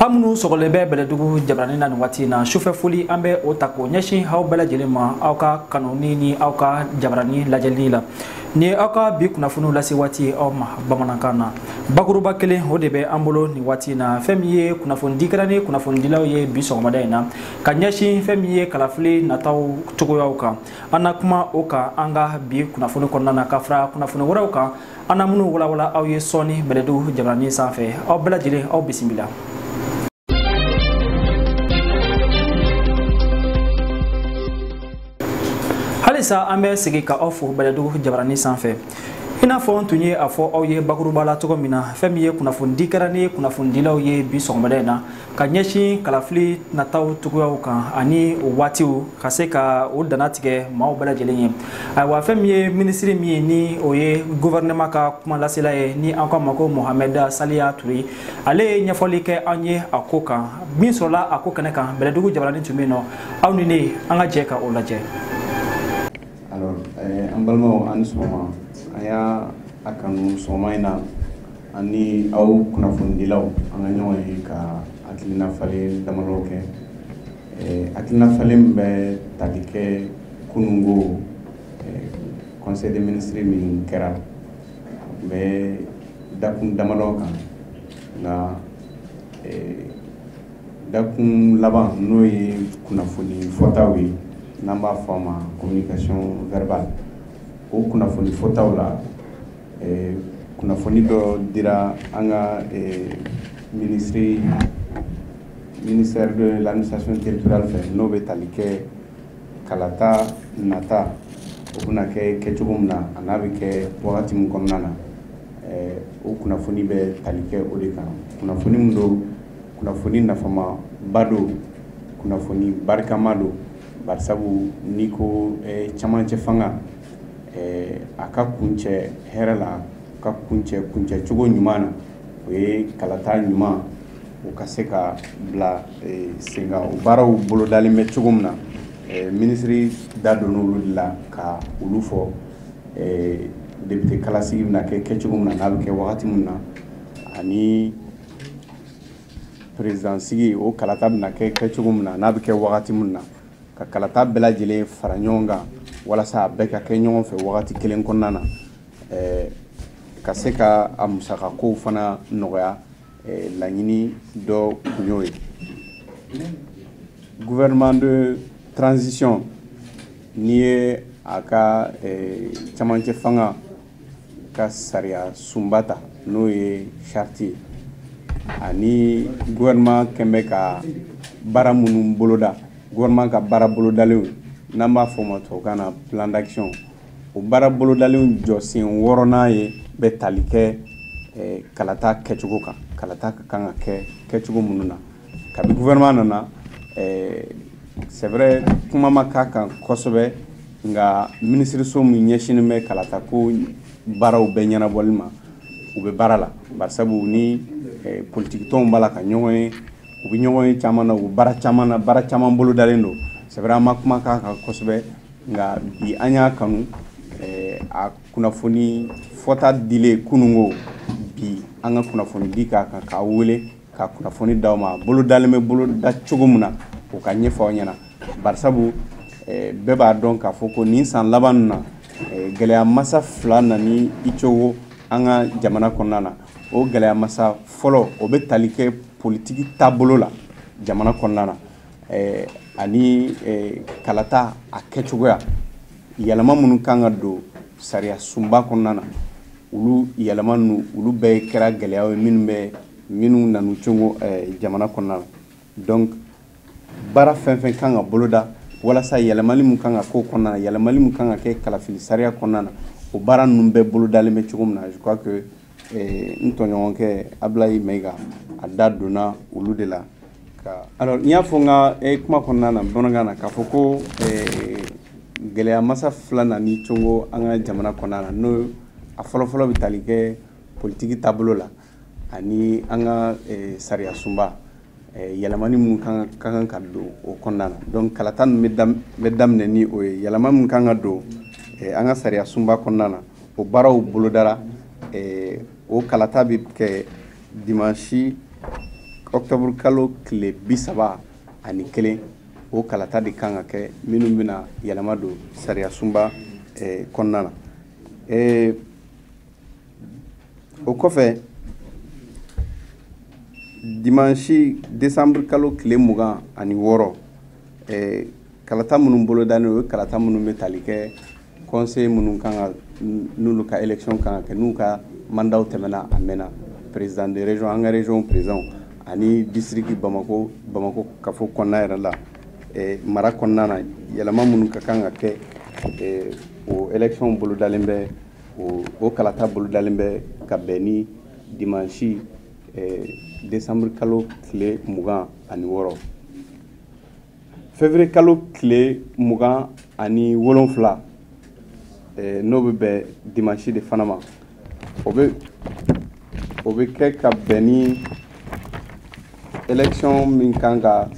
aw minnu sɔgɔlen bɛ bɛlɛdugu jabarani na nin waati in na sufɛ foli an bɛ o ta k'o ɲɛsin aw bɛɛ lajɛlen ma aw ka kanuni ni aw ka jabarani lajɛli la ni aw ka bi kunnafoniw lase waati aw ma bamanankan na bakuruba kelen o de bɛ an bolo nin waati in na fɛn min ye kunnafonidi kɛra ni kunnafonidilaw ye bi sɔgɔmada in na ka ɲɛsin fɛn min ye kalafili nataw cogoyaw kan an na kuma o kan an ka bi kunnafoni kɔnɔna na ka fara kunnafoni wɛrɛw kan an na minnu walawala aw ye sɔɔni bɛlɛdugu jabarani sanfɛ aw bɛɛ lajɛlen aw bisimila halisa an bɛ segi ka aw fo bɛlɛdugu jabarani sanfɛ i n'a fɔ n tun ye a fɔ aw ye bakuruba la cogo min na fɛn min ye kunnafonidi kɛra ni kunnafonidilaw ye bi sɔgɔmada in na ka ɲɛsin kalafili nataw cogoyaw kan ani o waatiw ka se ka o dantigɛ maaw bɛɛ lajɛlen ye ayiwa fɛn min ye minisiri min ye ni o ye guvɛrɛnɛma ka kumalasela ye ni an k'a ma ko mohamɛd saliya ture ale ye ɲɛfɔli kɛ an ye a ko kan min sɔrɔla a ko kɛnɛ kan bɛlɛdugu jabarani tun bɛ yen nɔ aw ni ne an ka jɛ ka o lajɛ eh, an balimaw aw ni sɔgɔma an y'a kanu sɔgɔma in na an ni aw kunnafonidilaw an ka ɲɔgɔn ye ka hakilina falen damadɔ kɛ eh, hakilina falen min bɛ tali kɛ kunun ko eh, conseil des ministres min kɛra a tun bɛ dakun damadɔ kan nka eh, dakun laban n'o ye kunnafoni fɔtaw ye n'an b'a fɔ a ma communication verbale o kunnafoni fɔtaw la kunnafoni dɔ dira an ka minisiri ministère de l'administration territoriale fɛ n'o bɛ tali kɛ kalata nata o bɛna kɛ kɛcogo min na an'a bɛ kɛ wagati min kɔnɔna na o kunnafoni bɛ tali kɛ o de kan kunnafoni min don kunnafoni nafamaba don kunnafoni barikama don barisabu n'i ko cɛmancɛ fanga a ka kuncɛ hɛrɛ la ka kuncɛ kuncɛcogo ɲuman na o ye kalata ɲumanw ka se ka bila sen kan o baaraw bolodalen bɛ cogo min na minisiri da donna olu de la ka olu fɔ depite kala sigi bɛna kɛ kɛcogo min na n'a bɛ kɛ wagati min na ani peresidansigi o kalata bɛna kɛ kɛcogo min na n'a bɛ kɛ wagati min na ka kalata bɛɛ lajɛlen fara ɲɔgɔn kan walasa a bɛɛ ka kɛ ɲɔgɔn fɛ wagati kelen kɔnɔna na eh, ka se ka a musaka kow fana nɔgɔya eh, laɲini dɔ kun y'o ye gouvernement de transition n'i ye a ka eh, camancɛ fanga ka sariya sunba ta n'o ye charte ye ani gouvernement kun bɛ ka baara minnu boloda gouvernement ka baara bolodalenw n'an b'a fɔ o ma tubabukan na plan d'action o baara bolodalenw jɔsen wɔɔrɔnan ye bɛ tali kɛ eh, kalata kɛcogo kan kalata ka kan ka kɛ kɛcogo minnu na Kabi gouvernement nana ɛɛ c'est vrai kuma ma k'a kan kosɛbɛ nka minisiriso min ɲɛsinnen bɛ kalata ko baaraw bɛɛ ɲɛnabɔli ma u bɛ baara la barisabu ni politiki tɔnw b'a la ka ɲɔgɔn ye u bɛ ɲɔgɔnye caman na u bɛ baara caman na baara caman bolodalen don c'est vrai an ma kuma k'a kan kosɛbɛ nka bi an y'a kanu a kunnafoni fɔta dilen kunun kɔ bi an ka kunnafoni di k'a kan k'aw wele ka kunnafoni d'aw ma bolodalen bɛ boloda cogo min na o ka ɲɛfɔ aw ɲɛna barisabu eh, bɛɛ b'a dɔn k'a fɔ ko nin san laban na eh, gɛlɛya masa fila nan'i congo an ka jamana kɔnɔna na o gɛlɛya masa fɔlɔ o bɛ tali kɛ politiki taabolo la jamana kɔnɔna na eh, ani eh, kalata a kɛcogoya yɛlɛma minnu kan ka don sariya sunba kɔnɔna na olu yɛlɛma ninnu olu bɛɛ kɛra gɛlɛyaw ye minnu bɛ minnu nan'u congo eh, jamana kɔnɔna la donc baara fɛn fɛn kan ka boloda walasa yɛlɛmali min kan ka k'o kɔnɔna na yɛlɛmali min kan ka kɛ kalafili sariya kɔnɔna na o baara ninnu bɛɛ bolodalen bɛ cogo min na je crois que eh, n tɔɲɔgɔnkɛ ablayi mayiga a da donna olu de la ka alors n y'a fɔ n ka eh, kuma kɔnɔna na bamanankan na k'a fɔ ko eh, gɛlɛya masa fila nan'i congo an ka jamana kɔnɔna na n'o a fɔlɔfɔlɔ bɛ tali kɛ politiki taabolo la ani an ka sariya sunba yɛlɛmani minnu ka kan ka don o kɔnɔna na donc kalata ninnu bɛ daminɛ ni o ye yɛlɛma min kan ka don an ka sariya sunba kɔnɔna na o baaraw bolodara o kalata bɛ kɛ dimanche octobre kalo tile bi saba ani kelen o kalata de kan ka kɛ minnu bɛna yɛlɛma don sariya sunba kɔnɔna na o kɔfɛ dimansi décembre kalo tile mugan ani wɔɔrɔ eh, kalata minnu bolodalen o ye kalata minnu bɛ tali kɛ conseil minnu kan ka n'olu ka élection kan ka kɛ n'u ka mandaw tɛmɛna a mɛnna président de région an ka région président ani district bamako bamako kafo kɔnɔna yɛrɛ la eh, mara kɔnɔna na yɛlɛma minnu ka kan ka kɛ eh, o élection bolodalen bɛ o o kalata bolodalen bɛ ka bɛn ni dimansi eh, desanburu kalo tile mugan ani wɔɔrɔ février kalo tile mugan ani wolonfila eh, n'o bɛ bɛn dimansi de fana ma o bɛ o bɛ kɛ ka bɛn ni élection min kan ka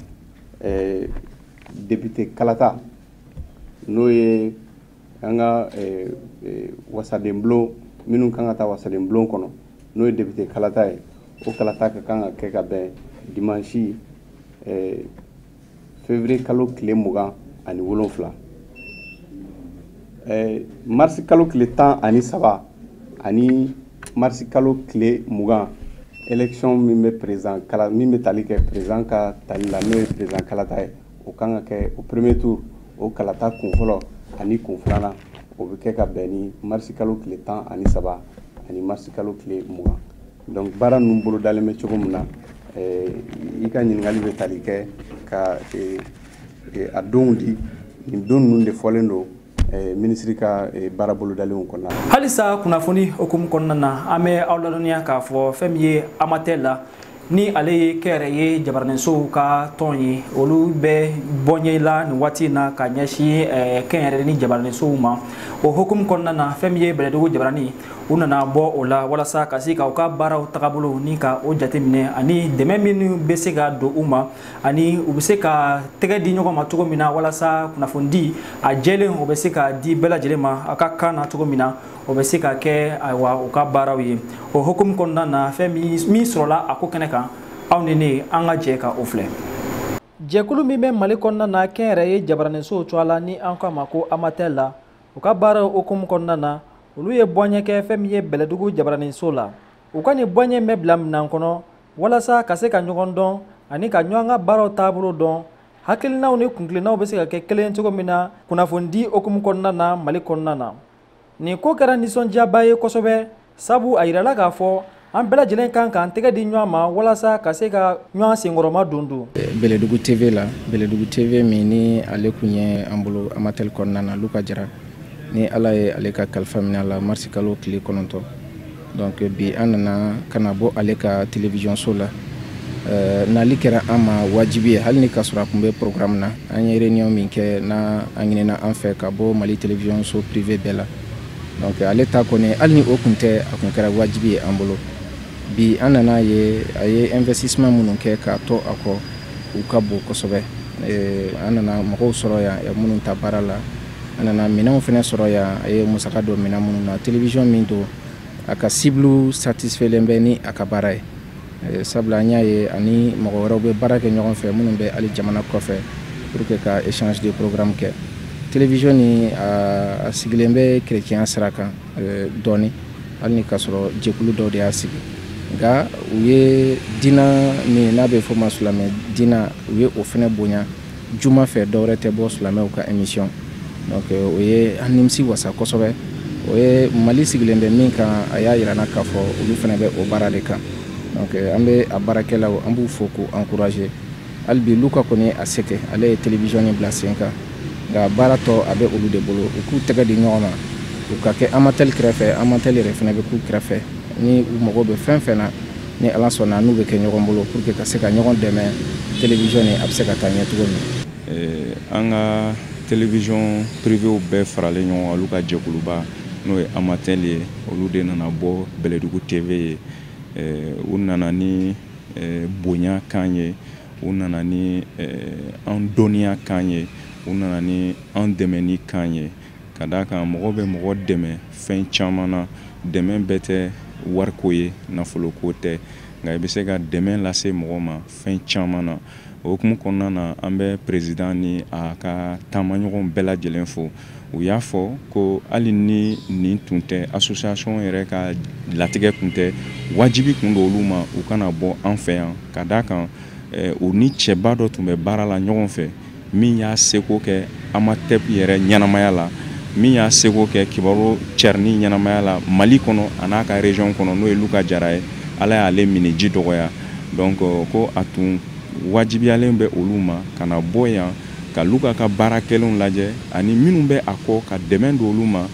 eh, député kalata n'o ye an ka eh, eh, wasadenbulon minnu kan ka taa wasadenbulon kɔnɔ n'o ye depite kalata ye o kalata ka kan ka kɛ ka bɛn dimansi eh, février kalo tile mugan ani wolonfila marisi kalo tile tan ani saba ani marisi kalo tile mugan élection min bɛ président kala min bɛ tali kɛ président ka tali la n'o ye président kalata ye o kan ka kɛ o premier tour o kalata kun fɔlɔ ani kun filanan o bɛ kɛ ka bɛn ni marisi kalo tile tan ani saba ani marisi kalo tile mugan donc baara ninnu bolodalen bɛ cogo min na eh, i ka ɲininkali bɛ tali kɛ ka eh, eh, a donw di nin don ninnu de fɔlen don Eh, minisiri ka eh, baara bolodalenw kɔnɔna na halisa kunnafoni hukumu kɔnɔna na an bɛ aw ladɔnniya k'a fɔ fɛn min ye amatɛ la ni ale ye kɛnyɛrɛye jabaraninsow ka tɔn ye olu bɛ bɔɲɛ la nin waati in na ka ɲɛsin eh, kɛnyɛrɛ ni jabaraninsow ma o hukumu kɔnɔna na fɛn min ye bɛlɛdugu jabaranin u nana bɔ o la walasa ka se ka u ka baaraw tagabolo ni ka o jateminɛ ani dɛmɛ minnu bɛ se ka don u ma ani u bɛ se ka tɛgɛ di ɲɔgɔn ma cogo min na walasa kunnafonidi a jɛlen o bɛ se ka di bɛɛ lajɛlen ma a ka kan na cogo min na o bɛ se ka kɛ ayiwa u ka baaraw ye o hukumu kɔnɔna na fɛn min sɔrɔla a ko kɛnɛ kan aw ni ne an ka jɛ ka o filɛ jɛkulu min bɛ mali kɔnɔna na kɛnyɛrɛye jabaraninsow cogoya la ni an k'a ma ko amatɛl la u ka baaraw hukumu kɔnɔna na olu ye bɔɲɛ kɛ fɛn min ye bɛlɛdugu jabaraninso la u ka nin bɔɲɛ bɛ bila minan kɔnɔ walasa ka se ka ɲɔgɔn dɔn ani ka ɲɔgɔn ka baaraw taabolo dɔn hakilinaw ni kuntilennaw bɛ se ka kɛ kelen cogo min na kunnafonidi hukumu kɔnɔna na mali kɔnɔna na nin ko kɛra nisɔndiyaba ye kosɛbɛ sabu a yirala k'a fɔ an bɛɛ lajɛlen kan k'an tɛgɛ di ɲɔgɔn ma walasa ka se ka ɲɔgɔn senkɔrɔma don donc bɛlɛdugu tv la bɛlɛdugu tv min ni ale kun ye an bolo amatɛli kɔnɔna na luka jara ni ala ye ale ka kalifa minɛ a la marisi kalo tile kɔnɔntɔn donc bi an nana ka na bɔ ale ka televiziyɔnso la euh, nali kɛra an ma wajibi ye hali ni k'a sɔrɔ a tun bɛ programme na an ye réunion min kɛ n'a a ɲinina an fɛ ka bɔ mali televiziyɔnso privé bɛɛ la donc ale ta kɔni hali ni o tun tɛ a tun kɛra wajibi ye an bolo bi an nana ye a ye investissement minnu kɛ k'a to a kɔ u ka bon kosɛbɛ euh, an nana mɔgɔw sɔrɔ yan minnu ta baara la an nana minɛnw fana sɔrɔ yan a ye musaka don minɛn minnu na télévision min don a ka cible satisfailen bɛ ni a ka baara ye eh, sabula an y'a ye ani mɔgɔ wɛrɛw bɛ baara kɛ ɲɔgɔn fɛ minnu bɛ hali jamana kɔfɛ pour que ka échange de programme kɛ télévision ni a sigilen bɛ chrétien sira kan eh, dɔɔni hali ni k'a sɔrɔ jɛkulu dɔw de y'a sigi nka u ye diina min n'a bɛ fɔ ma silamɛ diina u ye o fana bonya juma fɛ dɔwɛrɛ tɛ bɔ silamɛw ka émission donc euh, o ye an nimisi wasa kosɛbɛ o ye mali sigilen bɛ min kan a y'a yira an na k'a fɔ olu fana bɛ o baara de kan donc euh, an bɛ a baarakɛlaw an b'u fo k'u encourager hali bi luka kɔni y'a se kɛ ale ye télévision ni bila sen kan nka baara tɔ a bɛ olu de bolo u k'u tɛgɛ di ɲɔgɔn ma u ka kɛ amatɛli kɛrɛfɛ amatɛli yɛrɛ fana bɛ k'u kɛrɛfɛ ni u mago bɛ fɛn fɛn na ni ala sɔnna n'u bɛ kɛ ɲɔgɔn bolo pour que ka se ka ɲɔgɔn dɛmɛ télévision ni a bɛ se ka taa ɲɛ cogo min eh, an ka télévision privéw bɛɛ faralen ɲɔgɔn kan olu ka jɛkuluba n'o ye amatel ye olu de nana bɔ bɛlɛdugu tv ye eh, u nana ni eh, bonya kan ye u nana ni an dɔnniya kan ye u nana ni an dɛmɛni kan ye ka d'a kan mɔgɔ bɛ mɔgɔ dɛmɛ fɛn caman na dɛmɛ bɛɛ tɛ wariko ye nafoloko tɛ nka i bɛ se ka dɛmɛ lase mɔgɔ ma fɛn caman na o hukumu kɔnɔna na an bɛ perezidan ni a ka taamaɲɔgɔn bɛɛ lajɛlen fo u y'a fɔ ko hali ni nin tun tɛ asosiyasɔn yɛrɛ ka latigɛ tun tɛ wajibi tun don olu ma u ka na bɔ an fɛ yan ka d'a kan eh, u ni cɛba dɔ tun bɛ baara la ɲɔgɔn fɛ min y'a seko kɛ amatel yɛrɛ ɲɛnamaya la min y'a seko kɛ kibaru carinni ɲɛnamaya la mali kɔnɔ an'a ka region kɔnɔ n'o ye luka jara ye ala y'ale minniji dɔgɔya donc ko a tun wajibiyalen bɛ olu ma ka na bɔ yan ka luka ka baara kɛlenw lajɛ ani minnu bɛ a kɔ ka dɛmɛ don olu ma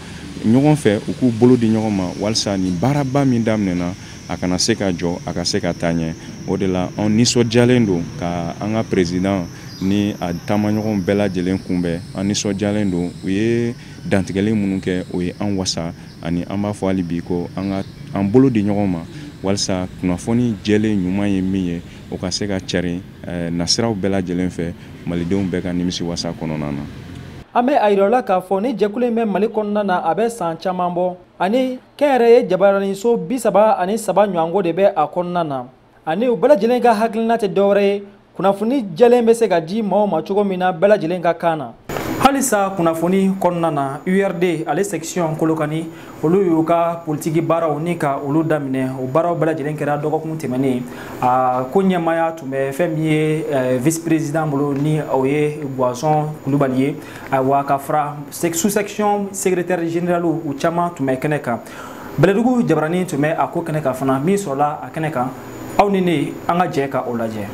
ɲɔgɔn fɛ u k'u bolo di ɲɔgɔn ma walisa nin baaraba min daminɛna a kana se ka jɔ a ka se ka taa ɲɛ o de la anw nisɔndiyalen don ka an ka perezidan ni a taamaɲɔgɔn bɛɛ lajɛlen kunbɛn an nisɔndiyalen don u ye dantigɛli minnu kɛ o ye an wasa ani an b'a fɔ hali bi ko an ka an bolo di ɲɔgɔn ma walisa kunnafoni jɛlen ɲuman ye min ye o ka se ka carin eh, nasiraw bɛɛ lajɛlen fɛ malidenw bɛɛ ka nimisi wasa kɔnɔna na an bɛ a yirala k'a fɔ nin jɛkulu in bɛ mali kɔnɔna na a bɛ saan caman bɔ ani kɛnyɛrɛye jabaraniso bi saba ani saba ɲɔgɔnko de bɛ a kɔnɔna na ani u bɛɛ lajɛlen ka hakilina tɛ dɔwɛrɛ ye kunnafoni jɛlen bɛ se ka di maaw ma cogo min na bɛɛ lajɛlen ka kan na halisa kunnafoni kɔnɔna na urd ale section kolokani olu y'u ka politiki baaraw ni ka olu daminɛ o baaraw bɛɛ lajɛlen kɛra dɔgɔkun tɛmɛnen a ko ɲɛmaaya tun bɛ fɛn min ye eh, vice président bolo ni o ye guazon kulubali ye ayiwa ka fara sous section secrétaire général u caman tun bɛ kɛnɛ kan bɛlɛdugu jabarani tun bɛ a ko kɛnɛ kan fana min sɔrɔla a kɛnɛ kan aw ni ne an ka jɛ ka o lajɛ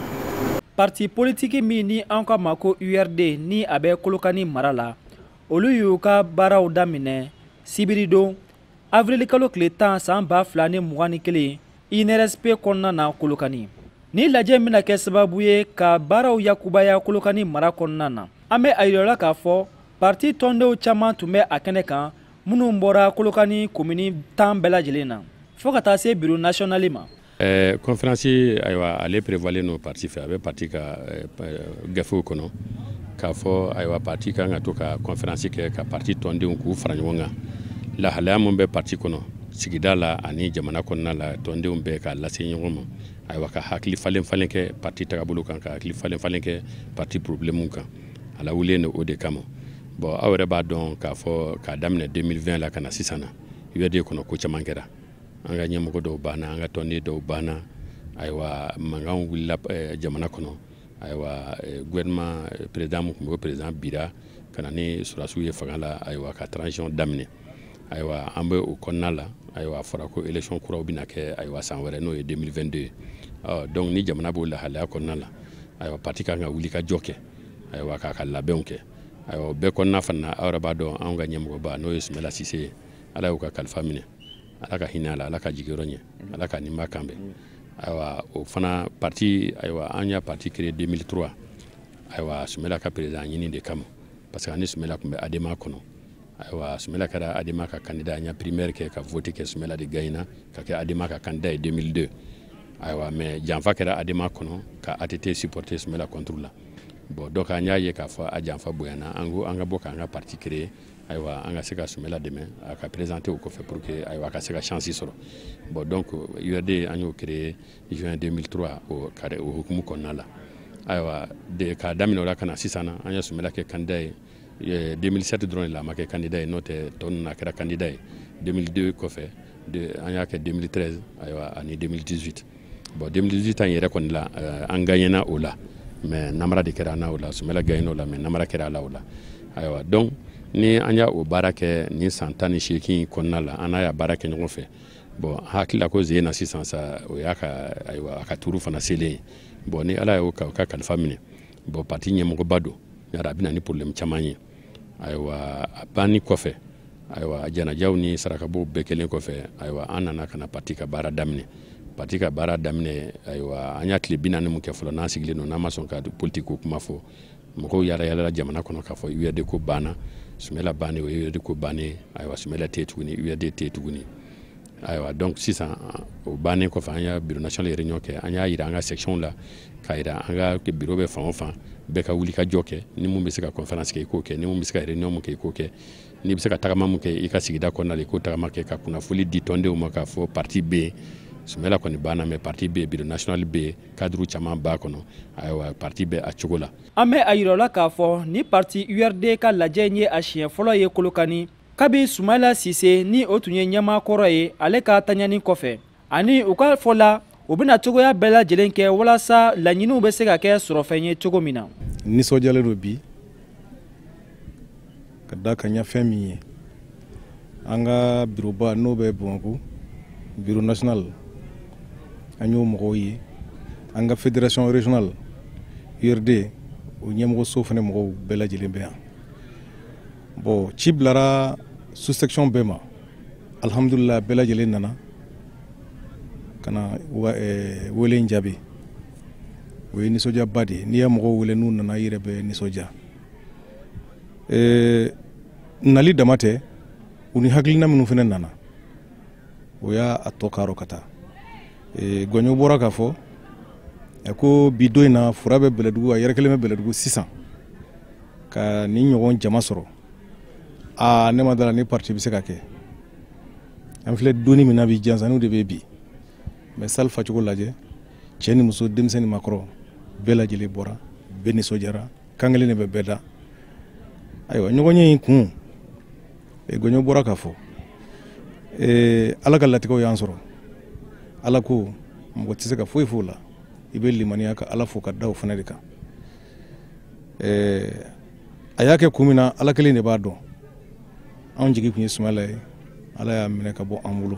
parti politiki min ni an k'a ma ko urd ni a bɛ kolokani mara la olu y'u ka baaraw daminɛ sibiridon avrili kalo tile tan saan ba fila ni mugan ni kelen inrsp kɔnɔna na kolokani nin lajɛ in bɛna kɛ sababu ye ka baaraw yakubaya kolokani mara kɔnɔna na an bɛ a yirala k'a fɔ parti tɔndenw caman tun bɛ a kɛnɛ kan minnu bɔra kolokani komini tan bɛɛ lajɛlen na fɔɔ ka taa se biro nasiyɔnali ma Eh, conférence ayiwa ale prévoilen don parti fɛ a bɛ parti ka eh, gafew kɔnɔ k'a fɔ ayiwa parti kan ka to ka conférence kɛ ka parti tɔndenw k'u fara ɲɔgɔn kan lahalaya min bɛ parti kɔnɔ sigida la ani jamana kɔnɔna la tɔndenw bɛɛ k'a lase ɲɔgɔn ma ayiwa ka hakili falen falen kɛ parti tagabolo kan ka hakili falen falen kɛ parti problème kan a lawulilen don o de kama bon aw yɛrɛ b'a dɔn k'a fɔ k'a daminɛ 2020 la ka na sisan na URD kɔnɔ ko caman kɛra an ka ɲɛmɔgɔ dɔw banna an ka tɔnden dɔw banna ayiwa mankan wulila eh, jamana kɔnɔ ayiwa eh, gouvernement eh, président mun tun bɛ o président binna ka na ni sɔrɔdasiw ye fanga la ayiwa ka transition daminɛ ayiwa an bɛ o kɔnɔna la ayiwa a fɔra ko élection kuraw bɛna kɛ ayiwa san wɛrɛ n'o ye 2022 ye ɔ donc ni jamana b'o lahalaya kɔnɔna la ayiwa parti kan ka wuli ka jɔ kɛ ayiwa k'a ka labɛnw kɛ ayiwa bɛɛ kɔnɔna fana aw yɛrɛ b'a dɔn anw ka ɲɛmɔgɔba n'o ye sumela sise ye ala y'a ka kalifa minɛ ala ka hinɛ a la ala k'a jigiyɔrɔ ɲɛ ala ka ninba kan bɛn ayiwa o fana parti ayiwa an y'a parti créé 2003 ayiwa sumela ka président ɲini de kama parce que ani sumela tun bɛ adema kɔnɔ ayiwa sumela kɛra adema ka candidat an y'a primaire kɛ ka vote kɛ sumela de gagnera ka kɛ adema ka candidat ye 2002 ayiwa mais janfa kɛra adema kɔnɔ ka att supporter sumela contre la bon donc an y'a ye k'a fɔ a janfa bonyana an ko an ka bɔ k'an ka parti créé ayiwa an ka se ka sumela dɛmɛ a ka présenter o kɔfɛ pour que ayiwa a ka se ka chance sɔrɔ bon donc URD an y'o créer juin 2003 o kare o hukumu kɔnɔna la ayiwa de k'a daminɛ o la ka na sisan na an ye sumela kɛ candidat ye 2007 dɔrɔn de la a ma kɛ candidat ye n'o tɛ tɔ ninnu a kɛra candidat ye 2002 kɔfɛ an y'a kɛ 2013 ayiwa ani 2018 bon 2018 ta in yɛrɛ kɔni la euh, an gagnena o la mais namara de kɛra an na o la sumela gagnena o la mais namara kɛra a la o la ayiwa donc ni an y'a o baara kɛ nin san tan ni seegin kɔnɔna la an n'a y'a baara kɛ ɲɔgɔn fɛ bon hakili la ko ze na sisan sa o y'a ka ayiwa a ka turu fana selen ye bon ni ala y'o ka kalifa minɛ bon parti ɲɛmɔgɔba don yara a bɛ na ni problème caman ye ayiwa a banni kɔfɛ ayiwa janajaw ni sarakabow bɛɛ kɛlen kɔfɛ ayiwa an nana ka na pati ka baara daminɛ pati ka baara daminɛ ayiwa an y'a tile bi naani mun kɛ fɔlɔ n'an sigilen don n'an ma sɔn ka politikiko kuma fɔ mɔgɔw yaala yaalala jamana kɔnɔ k'a fɔ URD ko banna sumela bannen o ye URD ko bannen ayiwa sumela tɛ yen tuguni URD tɛ yen tuguni ayiwa donc sisan o bannen kɔfɛ an y'a biro national réunion kɛ an y'a yira an ka section la k'a yira an ka biro bɛ fan o fan bɛɛ ka wuli ka jɔ kɛ ni mun bɛ se ka conférence kɛ i k'o kɛ ni mun bɛ se ka réunion mun kɛ i k'o kɛ n'i bɛ se ka tagama mun kɛ i ka sigida kɔnɔna la i k'o tagama kɛ ka kunnafoli di tɔndenw ma k'a fɔ parti bɛ yen sumela kɔni banna mais parti bɛ biro national bɛ yen kaduru caman b'a kɔnɔ ayiwa parti bɛ a cogo la an bɛ a yira aw la k'a fɔ ni parti urd ka lajɛ in ye a siɲɛ fɔlɔ ye kolokani kabi sumayila sise ni o tun ye ɲɛmaa kɔrɔ ye ale ka taɲani kɔfɛ ani u ka fɔ la u bɛna cogoya bɛɛ lajɛlen kɛ walasa laɲiniw bɛ se ka kɛ sɔrɔfɛn ye cogo min na nisɔndiyalen don bi ka da kan ɲɛ fɛn min ye an ka biroba n'o bɛ bamakɔ biro national an y'o mɔgɔw ye an ka fédération régionale urd o ɲɛmɔgɔso fana mɔgɔw bɛɛ lajɛlen bɛ yan bɔn ci bilara sous-section bɛɛ ma alihamudulila bɛɛ lajɛlen nana ka na eh, wele in jaabi o ye nisɔndiyaba de ye n'i ye mɔgɔw wele n'u nana i yɛrɛ bɛ nisɔndiya eh, nali dama tɛ u ni hakilina minnu fana nana o y'a tɔ kaarɔ ka taa e, gɔnyo bɔra k'a fɔ e, ko bi don in na fura bɛ bɛlɛdugu a yɛrɛ kelen bɛ bɛlɛdugu sisan ka nin ɲɔgɔn jama sɔrɔ aa ne ma da a la ni parti bɛ se k'a kɛ an filɛ donni min na bi jansanniw de bɛ bi mais salle facogo lajɛ cɛ ni muso denmisɛn ni makɔrɔ bɛɛ lajɛlen bɔra bɛɛ nisɔndiyara kan kelen de bɛ bɛɛ da ayiwa ɲɔgɔnye in kun eh, gɔɲɔ bɔra k'a fɔ eh, ala ka latigɛw y'an sɔrɔ ala ko mɔgɔ tɛ se ka foyi f'o la i bɛ limaniya ka ala fo ka da o fana de kan eh, a y'a kɛ kun min na ala kelen de b'a dɔn anw jigi tun ye sumala ye ala y'a minɛ ka bɔ an bolo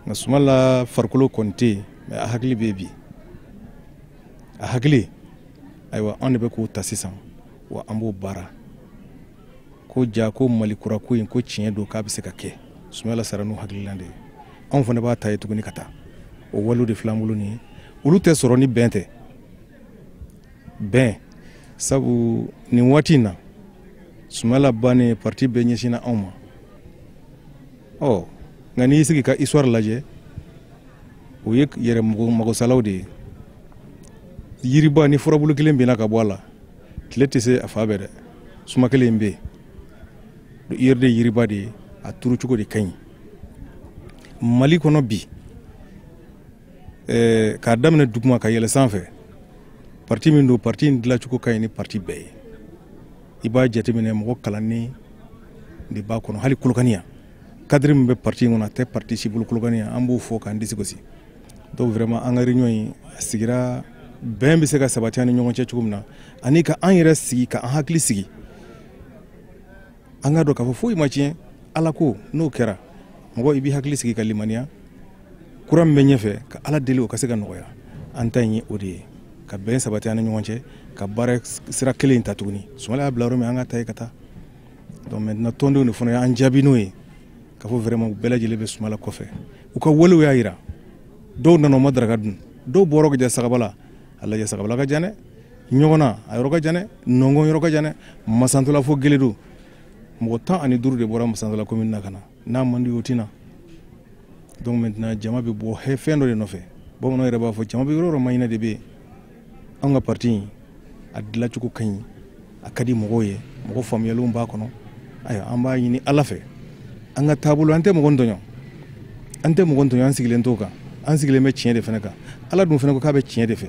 nka sumala farikolo kɔni tɛ yen mais a hakili bɛ bi a hakili ayiwa anw de bɛ k'o ta sisan wa an b'o baara ko ja ko mali kura ko in ko tiɲɛ don k'a bɛ se ka kɛ sumayila sara n'o hakilila de ye anw fana b'a ta yen tuguni ka taa o walew de filan bolo nin ye olu tɛ sɔrɔ ni bɛn tɛ bɛn sabu nin waati in na sumayila bannen parti bɛɛ ɲɛsinna anw ma ɔ nka n'i y'i sigi ka histoire lajɛ o ye yɛrɛ magosalaw de ye yiriba ni furabulu kelen binna ka bɔ a la tile tɛ se a fan bɛɛ dɛ suma kelen bɛ yen yiri de yiriba de ye a turu cogo de ka ɲi mali kɔnɔ bi eh, k'a daminɛ duguma ka yɛlɛ sanfɛ parti min don parti in dilacogo ka ɲi ni parti bɛɛ ye i b'a jateminɛ mɔgɔ kalannen de b'a kɔnɔ hali kolokani yan cadre min bɛ parti in kɔnɔ a tɛ parti si bolo kolokani yan an b'o fɔ k'an disi gosi donc vraiment an ka réunion in a sigira bɛn bɛ se ka sabati an ni ɲɔgɔn cɛ cogo min na ani ka an yɛrɛ sigi ka an hakili sigi an k'a dɔn k'a fɔ foyi ma tiɲɛ ala ko n'o kɛra mɔgɔ i b'i hakili sigi ka limaniya kura min bɛ ɲɛfɛ ka ala deli o ka se ka nɔgɔya an ta in ye o de ye ka bɛn sabati an ni ɲɔgɔn cɛ ka baara sira kelen in ta tuguni sumala y'a bila yɔrɔ min an k'a ta yen ka taa donc maintenant tɔndenw de fana y'an jaabi n'o ye k'a fɔ vraiment u bɛɛ lajɛlen bɛ sumala kɔfɛ u ka walew y'a jira dɔw nana u ma daraka dun dɔw bɔra ka jɛ sagabala a lajɛ sagabala ka jan dɛ ɲɔgɔna a yɔrɔ ka jan dɛ nɔngɔn yɔrɔ ka jan dɛ masantola fo geledo mɔgɔ tan ani duuru de bɔra masantola komini na ka na n'a man di o tɛ na donc maintenant jama bɛ bɔ fɛn dɔ de nɔfɛ bamananw yɛrɛ b'a fɔ jama bɛ yɔrɔ o yɔrɔ maaɲinina de bɛ yen an ka parti in a dilacogo ka ɲi a ka di mɔgɔw ye mɔgɔ faamuyalenw b'a kɔnɔ ayiwa an b'a ɲini ala fɛ an ka taabolo an tɛ mɔgɔ tɔɲɔ an tɛ mɔgɔ tɔɲɔ an sigilen t'o kan an sigilen bɛ tiɲɛ de fana kan ala dun fana ko k'a bɛ tiɲɛ de fɛ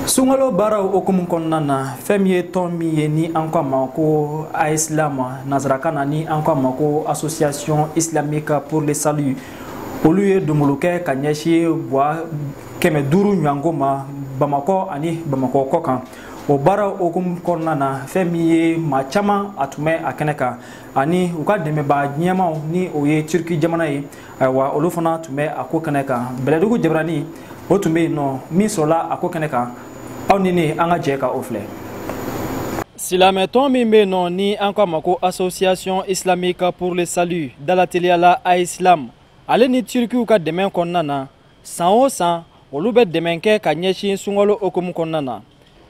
sunkalo baaraw hukumu kɔnɔna na fɛn min ye tɔn min ye ni an ko a ma ko aislam nansarakan na ni an ko a ma ko association islamique pour le salut olu ye donbolo kɛ ka ɲɛsin gwa kɛmɛ duuru ɲɔgɔnko ma bamakɔ ani bamakɔ kɔ kan o baara hukumu kɔnɔna na fɛn min ye maa caman a tun bɛ a kɛnɛ kan ani u ka dɛmɛbaa ɲɛmaaw ni o ye turki jamana ye ayiwa olu fana tun bɛ a ko kɛnɛ kan bɛlɛdugu jabaranin o tun bɛ yen nɔ min sɔrɔla a ko kɛnɛ kan aw ni ne an ka jɛ ka o filɛ silamɛtɔn min bɛ yen nɔ ni an k'a ma ko association islamique pour le salut dalateliya la AISLAM ale ni turukiw ka dɛmɛ kɔnɔna na san o san olu bɛ dɛmɛ kɛ ka ɲɛsin sunkalo hukumu kɔnɔna na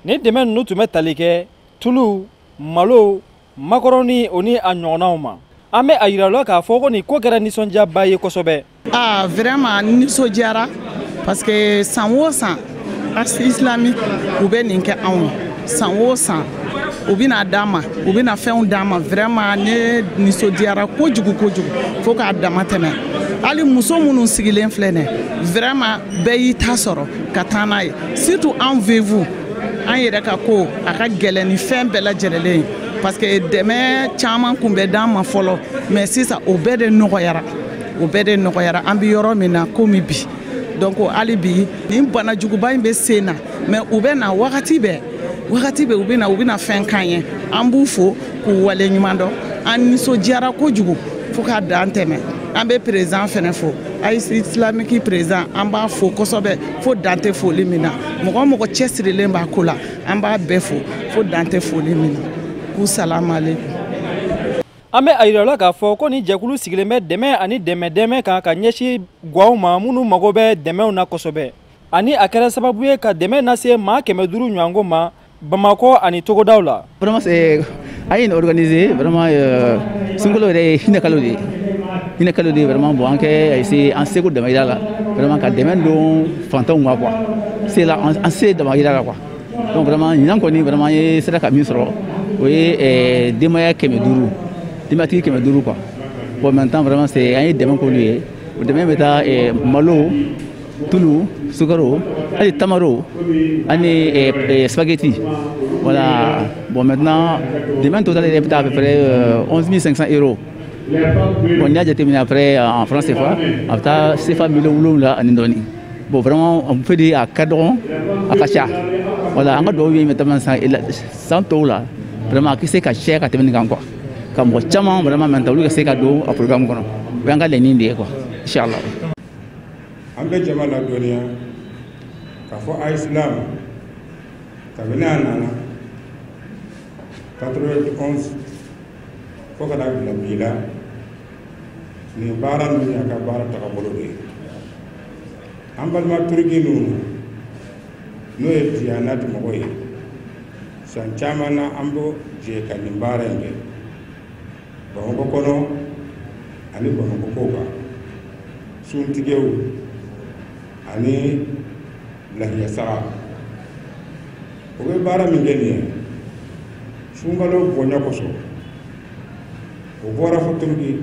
ni dɛmɛ ninnu tun bɛ tali kɛ tulu malo makɔrɔni o ni a ɲɔgɔnnaw ma an bɛ a yira la k'a fɔ ko nin ko kɛra nisɔndiyaba ye kosɛbɛ aa vraiment nisɔndiyara parce que san o san a islamique u bɛ nin kɛ anw san o san u bɛna d'an ma u bɛna fɛnw d'an ma vraiment ne nisɔndiyara kojugu kojugu fo k'a dama tɛmɛ hali muso minnu sigilen filɛ nɛ vraiment bɛɛ y'i ta sɔrɔ ka taa n'a ye surtout anw veuves an yɛrɛ ka ko a ka gɛlɛn ni fɛn bɛɛ lajɛlen parce que dɛmɛ caman kun bɛ d'an ma fɔlɔ mais sisan o bɛɛ de nɔgɔyara o bɛɛ de nɔgɔyara an bɛ yɔrɔ min na komi bi donc hali bi nin bana juguba in bɛ sen na mais u bɛ na wagati bɛɛ wagati bɛɛ u bɛ na u bɛ na fɛn k'an ye an b'u fo k'u waleɲumandɔn an nisɔndiyara kojugu fo k'a dan tɛmɛ an bɛ président fɛnɛ fo a islamique président an b'a fo kosɛbɛ fo dan tɛ foli min na mɔgɔ o mɔgɔ cɛsirilen b'a ko la an b'a bɛɛ fo fo dan tɛ foli min na k'u salamalekum an bɛ a yira la k'a fɔ ko nin jɛkulu sigilen bɛ dɛmɛ ani dɛmɛ dɛmɛ kan ka ɲɛsin gwaw ma minnu mago bɛ dɛmɛw na kosɛbɛ ani a kɛra sababu ye ka dɛmɛ lase maa kɛmɛ duuru ɲɔgɔnko ma Bamakɔ ani togodaw la. Vraiment c'est an ye nin organiser vraiment euh, sunkalo yɛrɛ ye hinɛkalo de ye hinɛkalo de ye vraiment bon an kɛ a essayer an seko damayira la vraiment ka dɛmɛ don fantanw ma quoi se la an se damayira la quoi donc vraiment ɲinan kɔni vraiment ye sera ka min sɔrɔ o ye euh, denbaya kɛmɛ duuru denbatigi kɛmɛ duuru quoi bon maintenant vraiment c'est an ye dɛmɛ k'olu ye O dɛmɛ bɛ taa malo tulu sukaro hali tamaro ani sabakɛti wala bon mɛ dɛmɛ tota de bɛ taa bɛ fɛ min san e bɔn y'a jate min a fɛ an fana senfa a bɛ taa sefa mi wolowula ani dɔɔnini bon fɛ de a ka dɔgɔn a ka ca wala an ka dɔw ye bɛ san san tɔw la a tɛ se ka cɛ ka tɛmɛ nin kan kuwa ka mɔgɔ caman vraiment ta olu ka se ka don a programme kɔnɔ o y'an ka laɲini de ye quoi inshallah an bɛ jama ladɔnniya k'a fɔ AISLAM kabini a nana 91 fo ka na bila bi la nin baara ninnu y'a ka baara tagabolo de ye an balima turiki ninnu n'o ye diyanati mɔgɔ ye san caman na an bɛ jɛ ka nin baara in kɛ bamakɔ kɔnɔ ani bamakɔ kɔkan suntigɛw ani lahiya saga o bɛ baara min kɛ nin ye sunkalo bonya kosɔn o bɔra fo turiki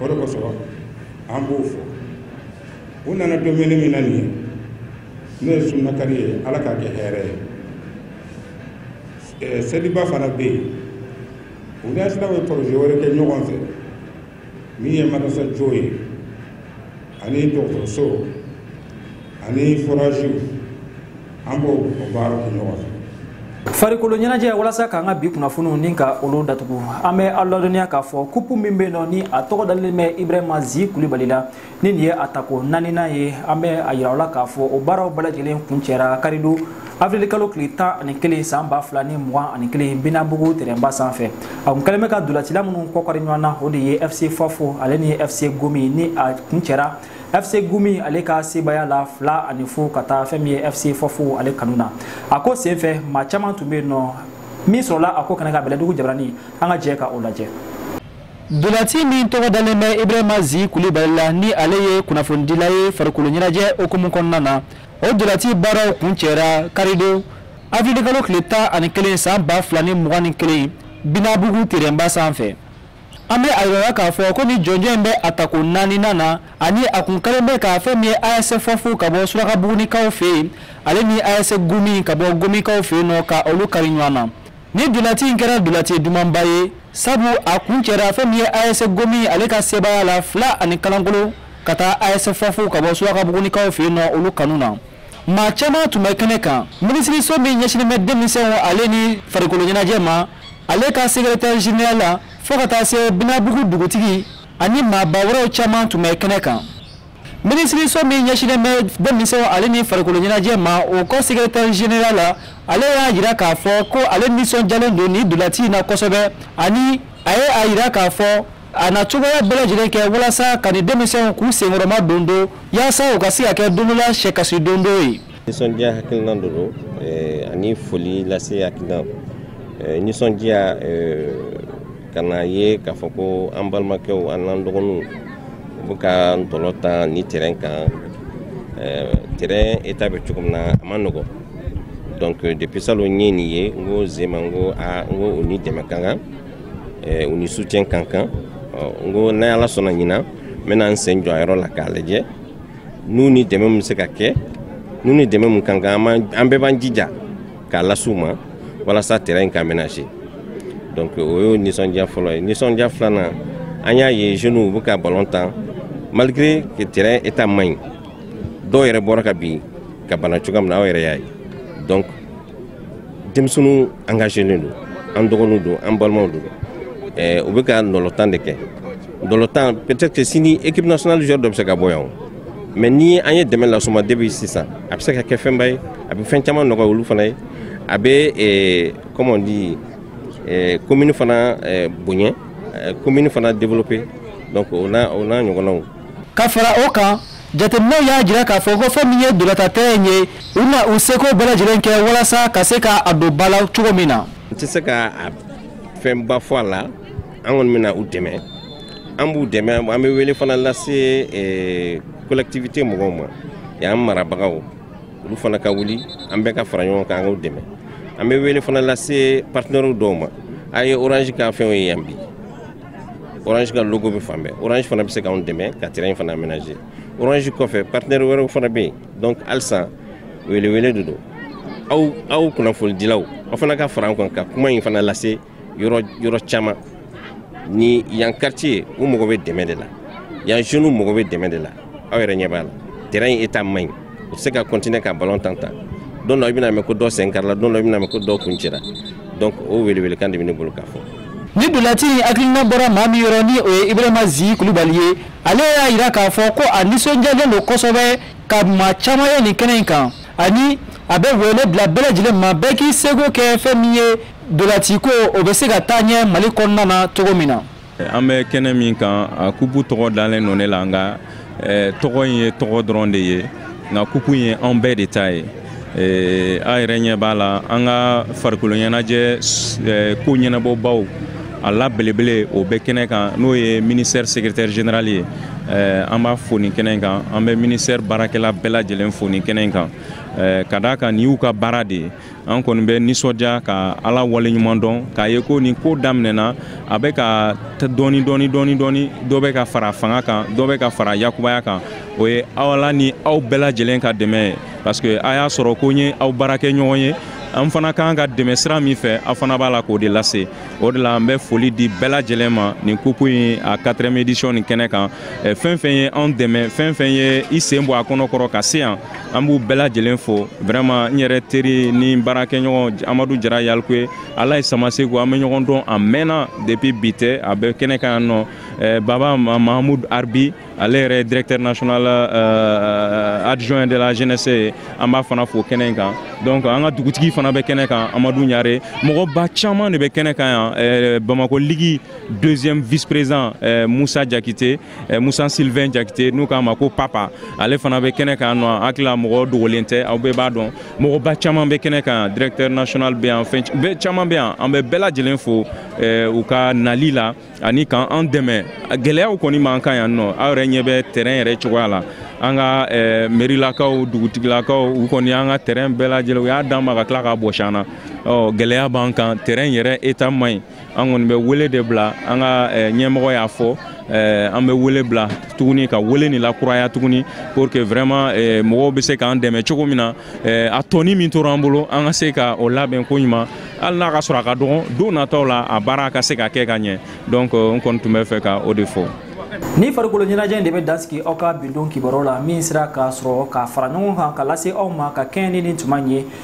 o de kosɔn an b'u fo u nana dumuni min na nin ye n'o ye sunnakari ye ala k'a kɛ hɛrɛ ye seliba fana bɛ yen u ni asiraw ye poroze wɛrɛ kɛ ɲɔgɔn fɛ min ye marasa jɔ ye ani dɔgɔtɔrɔso ani foraziw an b'o baara kɛ ɲɔgɔn fɛ farikolo ɲɛnajɛ walasa k'an ka bi kunnafoniw nin ka olu datugu an bɛ aw ladɔnniya k'a fɔ kupu min bɛ yen nɔ ni a tɔgɔ dalen bɛ ibrahima zi kulibali la ni nin ye a tako naaninan ye an bɛ a yira aw la k'a fɔ o baaraw bɛɛ lajɛlen kuncɛra karidon avril kalo tile tan ani kelen san ba fila ni mugan ani kelen binabugu terɛnba sanfɛ a kun kɛlen bɛ ka ntolacila minnu k'u kari ɲɔgɔn na o de ye fc fafo ale ni fc gomi ni a kuncɛra fc gomi ale ka sebaaya la fila ani fu ka taa fɛn min ye fc fafo ale kanu na a ko senfɛ maa caman tun bɛ yen nɔ min sɔrɔla a ko kan an ka bɛlɛdugu jabarani an ka jɛ ka o lajɛ Ntolaci min tɔgɔ dalen bɛ Ibrahima Zi Kulibali la ni ale ye kunnafonidila ye farikolo ɲɛnajɛ o hukumu kɔnɔna na o ntolaci baaraw kuncɛra karidon avril kalo tile tan ani kelen san ba fila ni mugan ni kelen binabugu terɛnba sanfɛ An bɛ a yira aw la k'a fɔ ko ni jɔnjɔn in bɛ a tako naaninan na ani a kun kɛlen bɛ ka fɛn min ye ase fafo ka bɔ surakabugunikaw fɛ yen ale ni ase gomi ka bɔ gomikaw fɛ yen nɔ ka olu kari ɲɔgɔn na nin ntolaci in kɛra ntolaci dumanba ye sabu a kuncɛra a fɛn min ye ase gomi ale ka sebaaya la fila ani kalankolon ka taa ase fafo ka bɔ surakabugunikaw fɛ yen nɔ olu kanu na maa caman tun bɛ kɛnɛ kan minisiriso min ɲɛsinnen bɛ denmisɛnw ale ni farikolo ɲɛnajɛ ma ale ka sekretɛri zenerali fo ka taa se binabugu dugutigi ani maaba wɛrɛw caman tun bɛ kɛnɛ kan minisiriso min ɲɛsinnen bɛ denmisɛnw ale ni farikolo ɲɛnajɛ ma o ka sekretɛri zenerali ale y'a yira k'a fɔ ko ale nisɔndiyalen don nin ntolaci in na kosɛbɛ ani a ye a yira k'a fɔ a na cogoya bɛɛ lajɛlen kɛ walasa ka nin denmisɛnw k'u senkɔrɔmadondon yaasa u ka se ka kɛ don dɔ la sɛkasi dondon ye nisɔndiya hakilina de don eh, ani foli lase hakilina eh, nisɔndiya eh, ka na ye k'a fɔ ko an balimakɛw an n'an dɔgɔninw u bɛ ka ntola tan nin terɛn kan terɛn eta bɛ cogo min na a man nɔgɔn donc depuis salon n ye nin ye n ko jamais n ko a n ko u ni dɛmɛ ka kan u ni soutien ka kan n ko ni ala sɔnna ɲinan n bɛna n sen jɔ a yɔrɔ la k'a lajɛ n'u ni dɛmɛ min se ka kɛ n'u ni dɛmɛ min ka kan an bɛɛ b'an jija k'a lase u ma walasa terrain in ka aménager donc o y'o nisɔndiya fɔlɔ ye nisɔndiya filanan an y'a ye jeunes u bɛ ka ballon tan malgré que terrain état man ɲi dɔw yɛrɛ bɔra ka bin ka bana cogoya min na aw yɛrɛ y'a ye donc denmisɛnninw engagelen don an dɔgɔninw don an balimaw don eh, u bɛ ka ntolatan de kɛ ntolatan peut-être que sini équipe nationale joueur dɔ bɛ se ka bɔ yan o mais ni an ye dɛmɛ lase u ma depuis sisan a bɛ se ka kɛ fɛnba ye a bɛ fɛn caman nɔgɔya olu fana ye a bɛ eh, comment on dit eh, commune fana eh, bonya eh, commune fana développer donc o n'a o n'a ɲɔgɔnnaw ka fara o kan jateminɛw y'a jira k'a fɔ ko fɛn min ye ntolatantɛrɛn ye u na u seko bɛɛ lajɛlen kɛ walasa ka se ka a don ba la cogo min na n tɛ se ka fɛnba fɔ a la an kɔni bɛna u dɛmɛ an b'u dɛmɛ an bɛ wele fana lase eh, collectivité mɔgɔw ma yan marabagaw olu fana ka wuli an bɛɛ ka fara ɲɔgɔn kan an k'u dɛmɛ an bɛ wele fana lase partenaires dɔw ma a ye orange ka fɛnw ye yan bi orange ka logo bɛ fan bɛɛ orange fana bɛ se k'anw dɛmɛ ka terrain in fana aménager orange kɔfɛ partenaire wɛrɛw fana bɛ yen donc halisa welewele de don aw aw kunnafonidilaw aw fana ka fara an kan ka kuma in fana lase yɔrɔ yɔrɔ caman ni yan quartier u mago bɛ dɛmɛ de la yan jeunes mago bɛ dɛmɛ de la aw yɛrɛ ɲɛ b'a la terrain in état man ɲi u tɛ se ka continuer ka ballon tan tan don dɔ i bɛna mɛn ko dɔ sen karila don dɔ i bɛna mɛn ko dɔ kun cira donc o welewelekan de bɛ ne bolo k'a fɔ nin ntolaci in hakilina bɔra maa min yɔrɔ ni o ye ibrahima zi kulubali ye ale y'a jira k'a fɔ ko a nisɔndiyalen don kosɛbɛ ka maa caman ye nin kɛnɛ in kan ani a bɛ wele bila bɛɛ lajɛlen ma bɛɛ k'i seko kɛ fɛn min ye ntolaciko o bɛ se ka taa ɲɛ mali kɔnɔna na cogo min na an bɛ kɛnɛ min kan a kupu tɔgɔ dalen don ne la nka eh, tɔgɔ in ye tɔgɔ dɔrɔn de ye nka kupu ye an bɛɛ de ta ye eh, a yɛrɛ ɲɛ b'a la an ka farikoloɲɛnajɛ eh, ko ɲɛnabɔbaw a la belebele o bɛ kɛnɛ kan n'o ye ministère secrétaire général ye eh, an b'a fo nin kɛnɛ kan an bɛ ministère baarakɛla bɛɛ lajɛlen fo nin kɛnɛ kan eh, ka d'a kan nin y'u ka baara de ye an kɔni bɛ nisɔndiya ka ala waleɲuman dɔn k'a ye ko nin ko daminɛna a bɛ ka dɔɔni dɔɔni dɔɔni dɔɔni dɔ bɛ ka fara fanga kan dɔ bɛ ka fara a kunbaya kan o ye ala ni aw bɛɛ lajɛlen ka dɛmɛ ye parce que a y'a sɔrɔ ko n ye aw baarakɛɲɔgɔn ye an fana ka kan ka dɛmɛ sira min fɛ aw fana b'a la k'o de lase o de la an bɛ foli di bɛɛ lajɛlen ma nin kupu in a quatrième édition nin kɛnɛ kan fɛn fɛn ye anw dɛmɛ fɛn fɛn ye i sen bɔ a kɔnɔ kɔrɔ ka se yan an b'u bɛɛ lajɛlen fo vraiment n yɛrɛ teri ni baarakɛɲɔgɔn amadu jara yalikuye alaye samaseku an bɛ ɲɔgɔn dɔn a mɛnna depuis bi tɛ a bɛ kɛnɛ kan yan nɔ eh, baba mahamud arbi ale yɛrɛ directeur national eh, adjoint de la jeunesse ye an b'a fana fo kɛnɛ in kan donc an ka dugutigi fana bɛ kɛnɛ kan amadu ɲare mɔgɔba caman de bɛ kɛnɛ kan yan eh, bamako ligi deuxième vice président musa jakite eh, musa sylvain jakite n'u k'a ma ko papa ale fana bɛ kɛnɛ kan yan n hakili la mɔgɔ dogolen tɛ aw bɛɛ b'a dɔn mɔgɔba caman bɛ kɛnɛ kan directeur national bɛ yan fɛn bɛɛ caman bɛ yan an bɛ bɛɛ lajɛlen fo eh, u ka nali la ani k'an an dɛmɛ gɛlɛyaw kɔni b'an kan yan nɔ aw yɛrɛ ɲɛ bɛ terrain yɛrɛ cogoya la an ka eh, merilakaw dugutigilakaw u kɔni an ka terrain bɛɛ lajɛlen u y'a d'an ma ka tila k'a bɔsi an na ɔ gɛlɛya b'an kan terrain yɛrɛ état man ɲi an kɔni bɛ wele de bila an ka eh, ɲɛmɔgɔ y'a fɔ eh, an bɛ wele bila tuguni ka wele nin lakuraya tuguni pour que vraiment eh, mɔgɔw bɛ se k'an dɛmɛ cogo min na a tɔni min tora an bolo an ka se ka o labɛn ko ɲuman hali n'a k'a sɔrɔ a ka dɔgɔn don nataw la a baara ka se ka kɛ ka ɲɛ donc n kɔni tun bɛ fɛ ka o de fɔ ni farikolo ɲɛnajɛ in de bɛ dan sigi aw ka bi don kibaruyaw la min sera ka sɔrɔ k'a fara ɲɔgɔn kan k'a lase aw ma ka kɛɲɛ ni nin tuma in ye